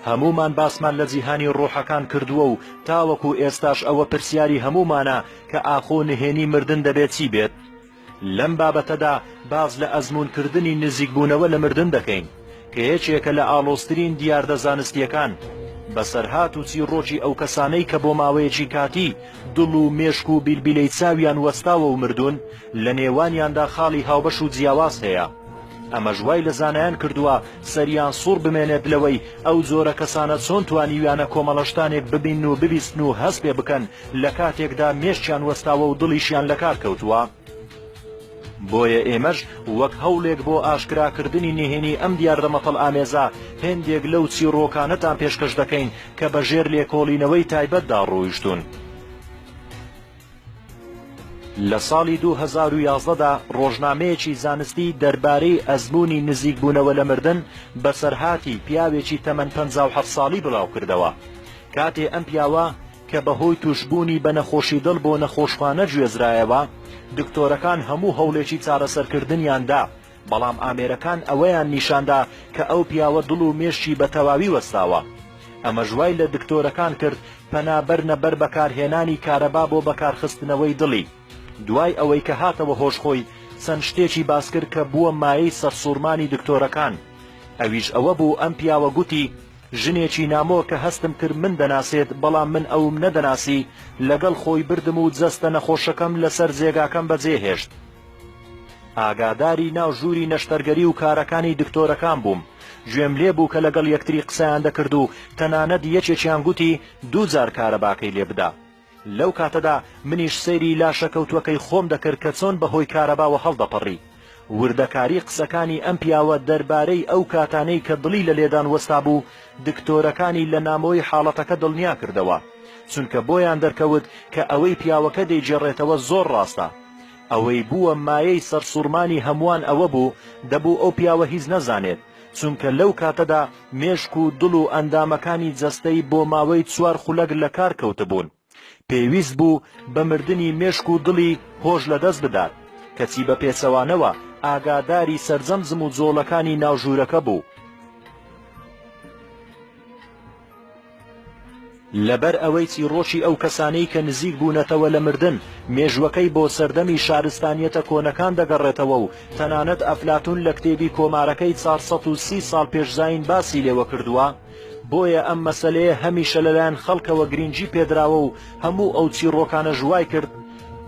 هەموومان باسمان لە جیهانی ڕۆحەکان کردووە و تاوەکو ئێستاش ئەوە پرسیاری هەموومانە کە ئاخۆ نهێنی مردن دەبێت چی بێت؟ لەم بابەتەدا باس لە ئەزموونکردنی نزیکبوونەوە لە مردن دەکەین، کە یەکێکە لە ئاڵۆزترین دیاردە زانستییەکان، بەسەرهات و چیڕۆکی ئەو کەسانەی کە بۆ ماوەیەکی کاتی دڵ و مێشک و بیلبیلەی چاویان وەستاوە و مردوون، لە نێوانیاندا خاڵی هاوبەش و جیاواز هەیە. ئەمەش وای لە زانایان کردووە سەریان سوڕ بمێنێت لەوەی ئەو جۆرە کەسانە چۆن توانیویانە کۆمەڵە شتانێک ببینن و ببیستن و هەست پێ بکەن لە کاتێکدا مێشکیان وەستاوە و دڵیشیان لە کار کەوتووە. بۆیە ئێمەش وەک هەوڵێک بۆ ئاشکراکردنی نهێنی ئەم دیاردە مەتەڵئامێزە، هێندێک لەو چیڕۆکانەتان پێشکەش دەکەین کە بە ژێر لێکۆڵینەوەی تایبەتدا ڕۆیشتوون. لە ساڵی دوو هەزار و یازدە دا ڕۆژنامەیەکی زانستی دەربارەی ئەزموونی نزیکبوونەوە لە مردن بەسەرهاتی پیاوێکی تەمەن پەنجا و حەفت ساڵی بڵاوکردەوە کاتێ ئەم پیاوە کە بەهۆی تووشبوونی بە نەخۆشی دڵ بۆ نەخۆشخانە گوێزرایەوە دکتۆرەکان هەموو هەوڵێکی چارەسەرکردنیان دا بەڵام ئامێرەکان ئەوەیان نیشاندا کە ئەو پیاوە دڵ و مێشکی بە تەواوی وەستاوە. ئەمەش وای لە دکتۆرەکان کرد پەنا بەرنە بەر بەکارهێنانی کارەبا بۆ بەکارخستنەوەی دڵی. دوای ئەوەی کە هاتەوە هۆش خۆی چەند شتێکی باس کرد کە بووە مایەی سەرسووڕمانی دکتۆرەکان. ئەویش ئەوە بوو ئەم پیاوە گوتی، ژنێکی نامۆ کە هەستم کرد من دەناسێت بەڵام من ئەوم نەدەناسی، لەگەڵ خۆی بردم و جەستە نەخۆشەکەم لەسەر جێگاکەم بەجێهێشت. ئاگاداری ناو ژووری نەشتەرگەری و کارەکانی دکتۆرەکان بووم، گوێم لێ بوو کە لەگەڵ یەکتری قسەیان دەکرد و تەنانەت یەکێکیان گوتی دوو جار کارەباکەی لێ بدە. لەو کاتەدا منیش سەیری لاشە کەوتووەکەی خۆم دەکرد کە چۆن بە هۆی کارەباوە هەڵدەپەڕی. وردەکاری قسەکانی ئەم پیاوە دەربارەی ئەو کاتانەی کە دڵی لە لێدان وەستابوو، دکتۆرەکانی لە نامۆی حاڵەتەکە دڵنیا کردەوە. چونکە بۆیان دەرکەوت کە ئەوەی پیاوەکە دەیگێڕێتەوە زۆر ڕاستە. ئەوەی بووە مایەی سەرسوڕمانی هەمووان ئەوە بوو، دەبوو ئەو پیاوە هیچ نەزانێت، چونکە لەو کاتەدا مێشک و دڵ و ئەندامەکانی جەستەی بۆ ماوەی چوار خولەک لە کار کەوتبوون. پێویست بوو بە مردنی مێشک و دڵی هۆش لە دەست بدات، کەچی بە پێچەوانەوە ئاگاداری سەرجەم جموجۆڵەکانی ناو ژوورەکە بوو. لەبەر ئەوەی چیڕۆکی ئەو کەسانەی کە نزیک بوونەتەوە لە مردن، مێژووەکەی بۆ سەردەمی شارستانییەتە کۆنەکان دەگەڕێتەوە و تەنانەت ئەفلاتوون لە کتێبی کۆمارەکەی چار سەد و سی ساڵ پێش زایین باسی لێوە کردووە، بۆیە ئەم مەسەلەیە هەمیشە لەلایەن خەڵکەوە گرینگی پێدراوە و هەموو ئەو چیڕۆکانەش وای کرد،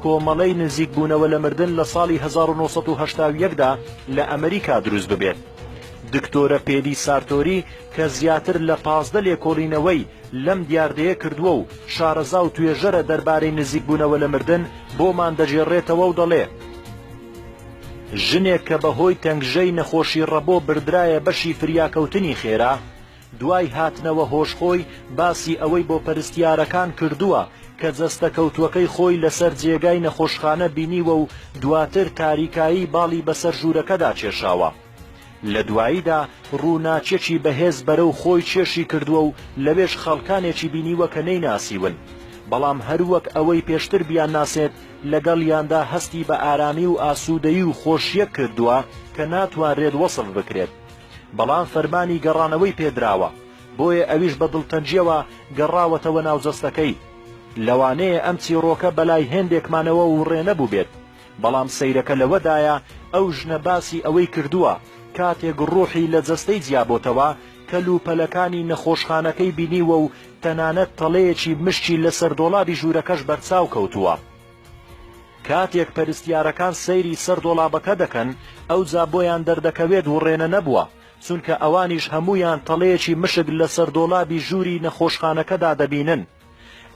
کۆمەڵەی نزیک بوونەوە لە مردن لە ساڵی هەزار و نۆ سەد و هەشتا و یەک دا لە ئەمریکا دروست ببێت. دکتۆرە پێلی سارتۆری کە زیاتر لە پازدە لێکۆڵینەوەی لەم دیاردەیە کردووە و شارەزا و توێژەرە دەربارەی نزیکبوونەوە لە مردن بۆمان دەگێڕێتەوە و دەڵێ ژنێک کە بەهۆی تەنگژەی نەخۆشی ڕەبۆ بردرایە بەشی فریاکەوتنی خێرا، دوای هاتنەوە هۆش خۆی باسی ئەوەی بۆ پەرستیارەکان کردووە کە جەستە کەوتووەکەی خۆی لەسەر جێگای نەخۆشخانە بینیوە و دواتر تاریکایی باڵی بەسەر ژوورەکەدا کێشاوە لە دواییدا ڕووناکیەکی بەهێز بەرەو خۆی کێشی کردووە و لەوێش خەڵکانێکی بینیوە کە نەیناسیون بەڵام هەر وەک ئەوەی پێشتر بیانناسێت لەگەڵیاندا هەستی بە ئارامی و ئاسوودەیی و خۆشیەک کردووە کە ناتوانرێت وەسف بکرێت. بەڵام فەرمانی گەڕانەوەی پێدراوە، بۆیە ئەویش بە دڵتەنگییەوە گەڕاوەتەوە ناو جەستەکەی. لەوانەیە ئەم چیڕۆکە بەلای هێندێکمانەوە وڕێ نەبووبێت، بەڵام سەیرەکە لەوەدایە ئەو ژنە باسی ئەوەی کردووە کاتێک ڕووحی لە جەستەی جیابۆتەوە، کەلوپەلەکانی نەخۆشخانەکەی بینیووە و تەنانەت تەڵەیەکی مشکی لەسەر دۆڵابی ژوورەکەش بەرچاو کەوتووە. کاتێک پەرستیارەکان سەیری سەر دۆڵابەکە دەکەن ئەوجا بۆیان دەردەکەوێت وڕێنە نەبووە، چونکە ئەوانیش هەموویان تەڵەیەکی مشک لەسەر دۆڵابی ژووری نەخۆشخانەکەدا دەبینن.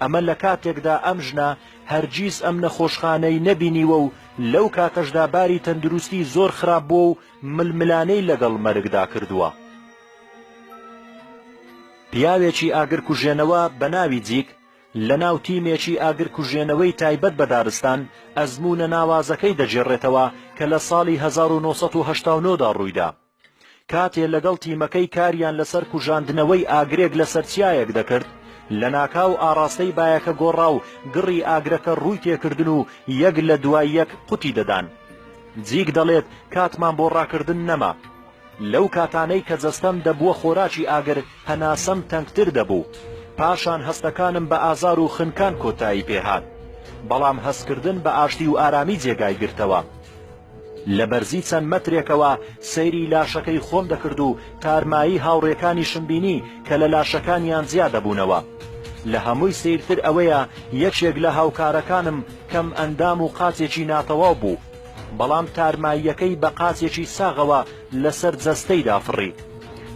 ئەمە لە کاتێکدا ئەم ژنە هەرگیز ئەم نەخۆشخانەی نەبینیوە و لەو کاتەشدا باری تەندروستی زۆر خراپ بووە و ململانێی لەگەڵ مەرگدا کردووە. پیاوێکی ئاگرکوژێنەوە بە ناوی جیک، لەناو تیمێکی ئاگرکوژێنەوەی تایبەت بە دارستان، ئەزموونە ناوازەکەی دەگێڕێتەوە کە لە ساڵی هەزار و نۆ سەد و هەشتا و نۆ دا ڕوویدا، کاتێ لەگەڵ تیمەکەی کاریان لەسەر کوژاندنەوەی ئاگرێک لەسەر چیایەک دەکرد، لەناکاو ئاڕاستەی بایەکە گۆڕا و گڕی ئاگرەکە ڕووی تێکردن و یەک لە دوای یەک قوتی دەدان. جیک دەڵێت، کاتمان بۆ ڕاکردن نەما. لەو کاتانەی کە جەستەم دەبووە خۆراکی ئاگر، هەناسەم تەنگتر دەبوو. پاشان هەستەکانم بە ئازار و خنکان کۆتایی پێ هات. بەڵام هەستکردن بە ئاشتی و ئارامی جێگای گرتەوە. لە بەرزی چەند مەترێکەوە سەیری لاشەکەی خۆم دەکرد و تارمایی هاوڕێکانیشم بینی کە لە لاشەکانیان جیا دەبوونەوە. لە هەمووی سەیرتر ئەوەیە یەکێک لە هاوکارەکانم کەمئەندام و قاچێکی ناتەواو بوو. بەڵام تارماییەکەی بە قاچێکی ساغەوە لەسەر جەستەیدا فڕی.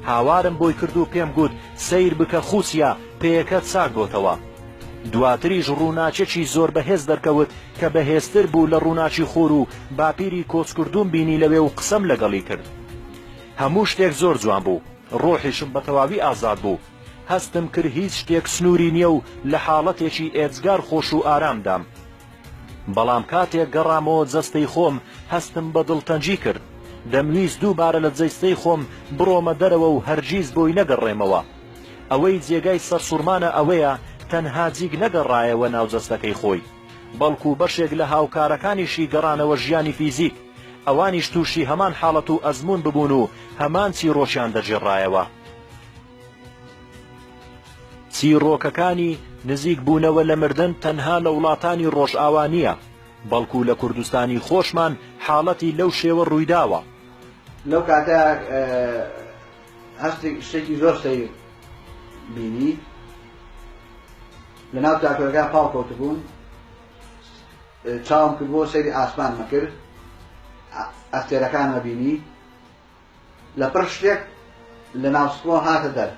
هاوارم بۆی کرد و پێم گوت، سەیر بکە خوسیە، پێیەکە چاک بۆتەوە. دواتریش ڕووناکێکی زۆر بەهێز دەرکەوت کە بەهێزتر بوو لە ڕووناکی خۆر و باپیری کۆچکردووم بینی لەوێ و قسەم لەگەڵی کرد. هەموو شتێک زۆر جوان بوو. ڕۆحیشم بە تەواوی ئازاد بوو. هەستم کرد هیچ شتێک سنووری نییە و لە حاڵەتێکی ئێجگار خۆش و ئارامدام. بەڵام کاتێک گەڕامەوە جەستەی خۆم هەستم بە دڵتەنگی کرد، دەمویست دووبارە لە جەیستەی خۆم بڕۆمە دەرەوە و هەرگیز بۆی نەگەڕێمەوە. ئەوەی جێگای سەرسوڕمانە ئەوەیە تەنها جیک نەگەڕایەوە ناو جەستەکەی خۆی، بەڵکو بەشێک لە هاوکارەکانیشی گەڕانەوە ژیانی فیزیک، ئەوانیش تووشی هەمان حاڵەت و ئەزموون ببوون و هەمان چیڕۆکیان دەگێڕایەوە. چیڕۆکەکانی نزیک بوونەوە لە مردن تەنها لە وڵاتانی ڕۆژئاوا نییە، بەڵکو لە کوردستانی خۆشمان حاڵەتی لەو شێوە ڕوویداوە. لەو کاتە هەستێک شتێکی زۆر سەیر بینی لە ناو تاکۆرەکە پاڵ کەوتبووم چاوم کردبووە سەیری ئاسمان مەکر ئەستێرەکانمە بینی لەپڕ شتێک لە ناو سکڵۆ هاتە دەر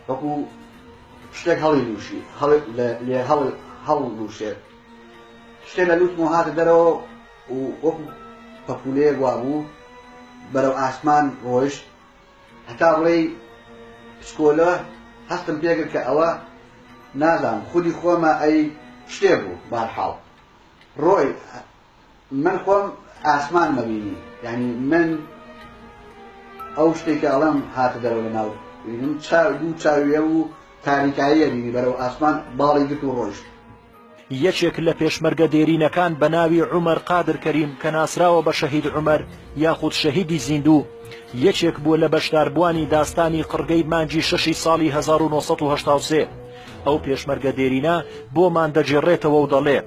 وەکوو شتێک هەڵی لووشی لێ هەڵ لووشێت شتێ لە لووتمەوە هاتە دەرەوە و وەکوو پەپولەیەک وا بوو بەرەو ئاسمان ڕۆیشت هەتا بڵێ پسکۆلە هەستم پێکرد کە ئەوە نازانم خودی خۆمە ئەی شتێ بوو بارحاڵ ڕۆی من خۆم ئاسمان مەبینی یعنی من ئەو شتێکە ئەڵم هاتە دەرەوە لە ناو بینم چاو دوو چاویە و تاریکاییە بینی بەرەو ئاسمان باڵی گرت و ڕۆیشت یەکێک لە پێشمەرگە دێرینەکان بە ناوی عومەر قادر کەریم کە ناسراوە بە شەهید عومەر یاخود شەهیدی زیندوو یەکێک بووە لە بەشداربووانی داستانی قڕگەی مانجی شەشی ساڵی 1970 ئەو پێشمەرگە دێرینە بۆمان دەگێڕێتەوە و دەڵێ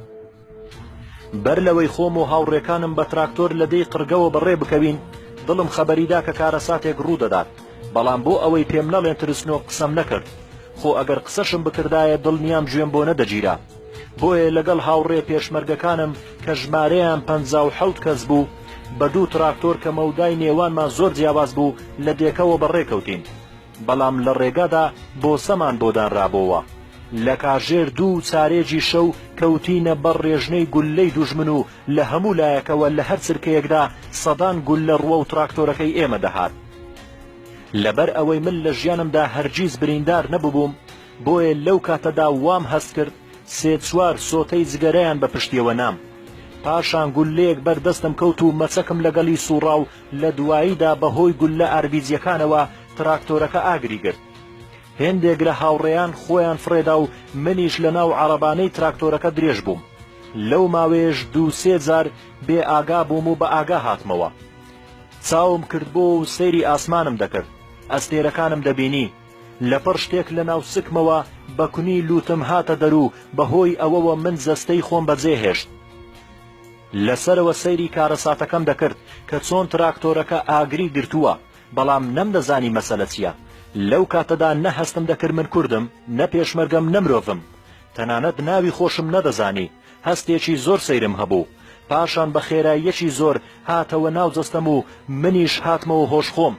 بەر لەوەی خۆم و هاوڕێکانم بە تراکتۆر لە دێی قڕگەوە بەڕێ بکەوین، دڵم خەبەری دا کە کارەساتێک ڕوو دەدات، بەڵام بۆ ئەوەی پێم نەڵێن ترسنۆک قسەم نەکرد. خۆ ئەگەر قسەشم بکردایە دڵنیام گوێم بۆ نەدەگیرا. بۆیە لەگەڵ هاوڕێ پێشمەرگەکانم کە ژمارەیان پەنجا و حەوت کەس بوو، بە دوو تراکتۆر کە مەودای نێوانمان زۆر جیاواز بوو، لە دێکەوە بەڕێ کەوتین. بەڵام لە ڕێگادا بۆسەمان بۆ دانرابۆوە. لە کاژێر دوو و چارێگی شەو کەوتینە بەر ڕێژنەی گوللەی دوژمن و لە هەموو لایەکەوە لە هەر چرکەیەکدا سەدان گوللە ڕووەو تراکتۆرەکەی ئێمە دەهات. لەبەر ئەوەی من لە ژیانمدا هەرگیز بریندار نەبووبووم، بۆیە لەو کاتەدا وام هەست کرد سێ چوار سۆتەی جگەرەیان بە پشتیەوە نام. پاشان گوللەیەک بەر دەستم کەوت و مەچەکم لەگەڵی سووڕا و لە دواییدا بەهۆی گوللە ئاربیجیەکانەوە تراکتۆرەکە ئاگری گرت هێندێک لە هاوڕێیان خۆیان فڕێدا و منیش لە ناو عەڕەبانەی تراکتۆرەکە درێژ بووم لەو ماوەیەش دوو سێ جار بێ ئاگا بووم و بە ئاگا هاتمەوە چاوم کردبۆوە و سەیری ئاسمانم دەکرد ئەستێرەکانم دەبینی لە پڕ شتێک لە ناو سکمەوە بە کونی لووتم هاتە دەر و بەهۆی ئەوەوە من جەستەی خۆم بەجێ هێشت لە سەرەوە سەیری کارەساتەکەم دەکرد کە چۆن تراکتۆرەکە ئاگری گرتووە، بەڵام نەمدەزانی مەسەلە چییە. لەو کاتەدا نە هەستم دەکرد من کوردم، نە پێشمەرگەم نە مرۆڤم. تەنانەت ناوی خۆشم نەدەزانی. هەستێکی زۆر سەیرم هەبوو. پاشان بە خێراییەکی زۆر هاتەوە ناو جەستەم و منیش هاتمەوە هۆش خۆم.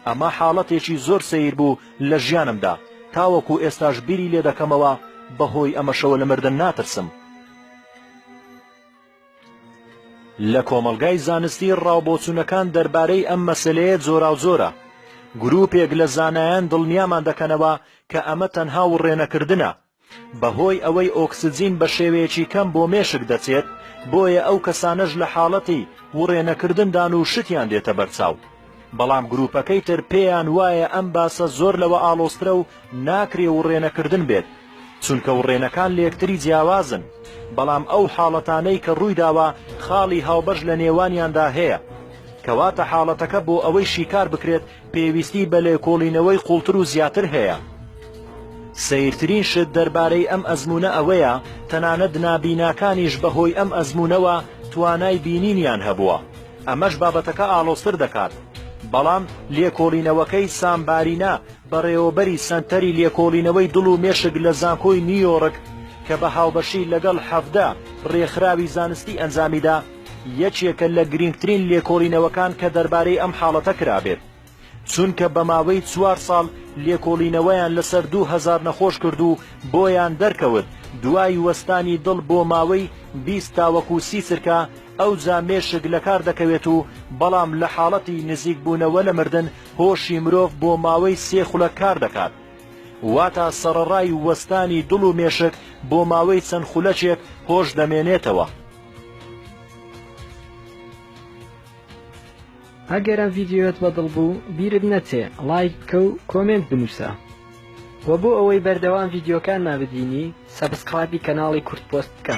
ئەمە حاڵەتێکی زۆر سەیر بوو لە ژیانمدا. تاوەکو ئێستاش بیری لێ دەکەمەوە، بەهۆی ئەمەشەوە لە مردن ناترسم. لە کۆمەڵگای زانستی ڕاوبۆچوونەکان دەربارەی ئەم مەسەلەیە جۆراوجۆرە گروپێک لە زانایان دڵنیامان دەکەنەوە کە ئەمە تەنها وڕێنەکردنە بەهۆی ئەوەی ئۆکسجین بە شێوەیەکی کەم بۆ مێشک دەچێت بۆیە ئەو کەسانەش لە حاڵەتی وڕێنەکردندان و شتیان دێتە بەرچاو بەڵام گروپەکەی تر پێیان وایە ئەم باسە زۆر لەوە ئاڵۆزترە و ناکرێ وڕێنەکردن بێت چونکە وڕێنەکان لە یەکتری جیاوازن بەڵام ئەو حاڵەتانەی کە ڕوویداوە خاڵی هاوبەش لە نێوانیاندا هەیە کەواتە حاڵەتەکە بۆ ئەوەی شیکار بکرێت پێویستی بە لێکۆڵینەوەی قوڵتر و زیاتر هەیە سیرترین شت دەربارەی ئەم ئەزمونە ئەوەیە تەنانەت نابیناکانیش بەهۆی ئەم ئەزمونەوە توانای بینینیان هەبووە ئەمەش بابەتەکە ئاڵۆزتر دەکات، بەڵام لێکۆڵینەوەکەی سام بارینە، بەڕێوەبەری سەنتەری لێکۆڵینەوەی دڵ و مێشک لە زانکۆی نیویۆڕک کە بە هاوبەشی لەگەڵ حەڤدە ڕێکخراوی زانستی ئەنجامیدا، یەکێکە لە گرینگترین لێکۆڵینەوەکان کە دەربارەی ئەم حاڵەتە کرابێت. چونکە بە ماوەی چوار ساڵ لێکۆڵینەوەیان لەسەر دوو هەزار نەخۆش کرد و بۆیان دەرکەوت دوای وەستانی دڵ بۆ ماوەی بیست تاوەکو سی چرکە ئەوجا مێشک لەکار دەکەوێت و بەڵام لە حاڵەتی نزیک بوونەوە لە مردن هۆشی مرۆڤ بۆ ماوەی سێ خولەک کار دەکات واتا سەڕەڕای وەستانی دڵ و مێشک بۆ ماوەی چەند خولەکێک هۆش دەمێنێتەوە. ئەگەر ئەم ڤیدیۆت بەدڵ بوو بیرت نەچێ ڵایک بکە و کۆمێنت بنووسە وە بۆ ئەوەی بەردەوام ڤیدیۆکانمان ببینی سەبسکڕایبی کەناڵی کورد پۆست بکە.